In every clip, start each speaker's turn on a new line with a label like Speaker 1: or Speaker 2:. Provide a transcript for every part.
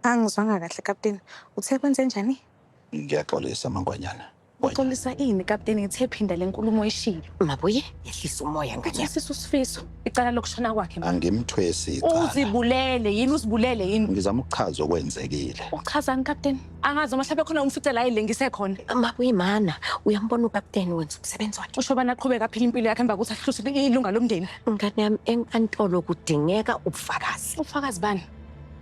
Speaker 1: Angizwanga kahle kapteni. Uthe kwenzenjani? Ngiyaxolisa
Speaker 2: mangwanyana. Uxolisa ini
Speaker 1: kapteni ngithe phinda lenkulumo oyishilo. Mabuye yehlisa
Speaker 3: umoya nganyana. Sisi usifiso
Speaker 1: icala lokushona kwakhe. Angimthwesi icala.
Speaker 2: Uzibulele yini
Speaker 1: uzibulele yini? Ngizama ukuchaza
Speaker 2: okwenzekile. Uchazani kapteni?
Speaker 1: Angazi uma mhlawumbe khona umfice la elengise khona. Mabuye mana
Speaker 3: uyambona ukapteni wenza umsebenzi wakhe. Usho bana aqhubeka aphila impilo
Speaker 1: yakhe emva kokuthi ahluse ilunga lomndeni. Ngane yami
Speaker 3: enkantolo kudingeka ubufakazi. Ubufakazi bani?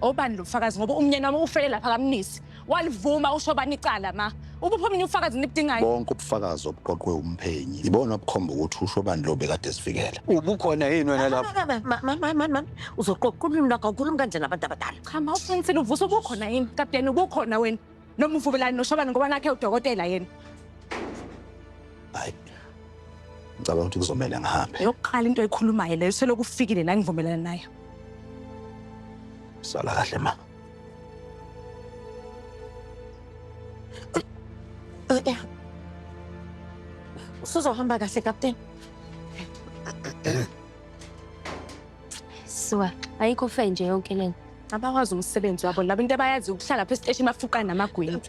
Speaker 1: Obani lo fakazi ngoba umnyeni wami ufele lapha kamnisi. Walivuma usho bani icala ma. Ubuphi omunye ufakazi nibudingayo? Bonke ubufakazi
Speaker 2: obuqoqwe umphenyi ibona obukhomba ukuthi usho bani lo bekade esivikela. Ubukhona yini wena
Speaker 4: lapho? Mama mama mama
Speaker 3: uzoqoqa ulimi lwakho awukhulumi kanje nabantu abadala. Cha ma uqinisile uvusa
Speaker 1: ubukhona yini? Kapteni ubukhona wena. Noma uvumelani noShobane ngoba nakhe udokotela yena.
Speaker 2: Hayi. Ngicabanga ukuthi kuzomele ngihambe. Yokuqala into ekhulumayo
Speaker 1: leyo selokhu ufikile la ngivumelana nayo.
Speaker 2: Sala kahle ma.
Speaker 3: Eh, eh. Usuzohamba kahle kapteni.
Speaker 5: Suka, ayikho fe nje yonke lena. Abakwazi umsebenzi
Speaker 1: wabo labo into abayazi ukuhlala phe station bafuqa namagwini.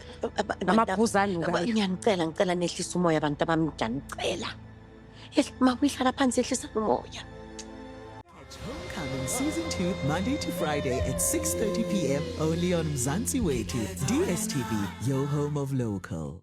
Speaker 1: Amabhuzani ukayi. Ngiyanicela ngicela nehlisa
Speaker 3: umoya abantu abamdana ngicela. Makuyihlala phansi ehlisa umoya.
Speaker 6: Homecoming Season 2, Monday to Friday at 6.30 p.m. only on Mzansi Weki, DSTV, your home of local.